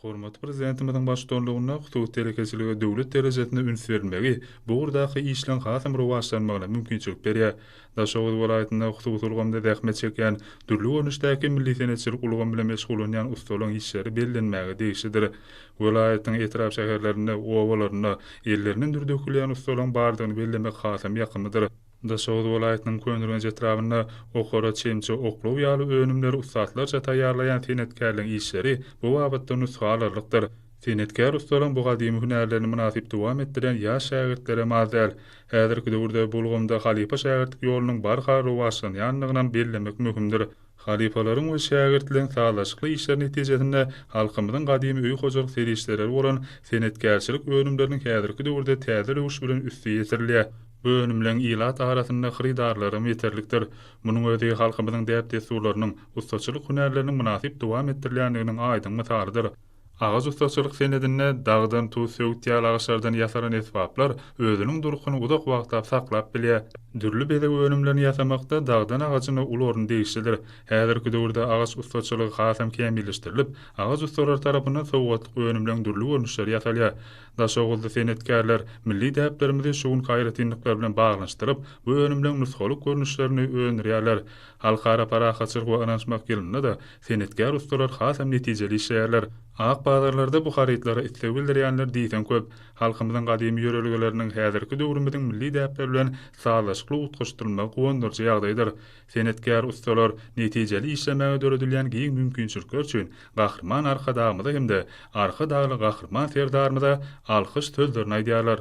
Hormatly Prezidentimiziň baştutanlygynda hususy telekeçilige döwlet derejesinde üns berilmegi bu ugurdaky işleň has hem rowaçlanmagyna mümkinçilik berýär. Daşoguz welaýatynda hususy ulgamda zähmet çekýän, dürli görnüşdäki milli senetçilik ulgamy bilen meşgullanýan ussalaryň işleri bellenmäge degişlidir. Welaýatyň etrap-şäherlerinde, obalarynda ellerinden dür dökülýän ussalaryň bardygyny bellemek has hem ýakymlydyr. Daşoguz welaýatynyň Köneürgenç etrabynda okara çemçe oklaw ýaly önümleri ussatlarça taýýarlaýan senetkärleň işleri bu babatda nusga alarlykdyr. Senetkär ussalaň bu gadymy hünärlerini mynasyp dowam etdirýän ýaş şägirtlerem az däl. Häzirki döwürde bu ulgamda halypa-şägirtlik ýolunyň barha rowaçlanýandygynam bellemek möhümdir. Halypalaryň we şägirtligiň sazlaşykly işleri netijesinde halkymyzyň gadymy öý hojalyk serişdeleri bolan senetkärçilik önümleriniň häzirki döwürde täze röwüş bilen üsti ýetirilýär. Bu önümleň ilat arasynda hyrydarlary hem ýeterlikdir. Munuň özi halkymyzyň däp-dessurlarynyň, ussaçylyk hünärleriniň mynasyp dowam etdirilýändiginiň aýdyň mysalydyr. Agaç ussaçylyk senedinde dagdan tuz söwütýär, agaçlardan ýasalan esbaplar özüniň durkuny uzak wagtlap saklap bilýär. Dürli bezeg önümlerini ýasamakda dagdan agajyna uly orun degişlidir. Häzirki döwürde agaç ussaçylygy hasam kämilleşdirilip, agaç ussalary tarapyndan sowgatlyk önümleriň dürli görnüşleri ýasalýar. Daşoguzly senetkärler milli däplerimizi şu günki aýratynlyklar bilen baglanyşdyryp, bu önümleriň nusgalyk görnüşlerini öndürýärler. Halkara parahatçylyk we ynanyşmak ýylynda-da Senetkär ussalar hasam netijeli işleýärler. Ak bazarlarda bu harytlara isleg bildirýänler diýseň köp. Halkymyzyň gadymy ýörelgeleriniň häzirki döwrümiziň milli däpleri bilen sazlaşykly utgaşdyrylmagy guwandyryjy ýagdaýdyr. Senetkär ussalar netijeli işlemäge döredilýän giň mümkinçilikler üçin Gahryman Arkadagymyza hem-de Arkadagly Gahryman Serdarymyza alkyş sözlerini aýdýarlar.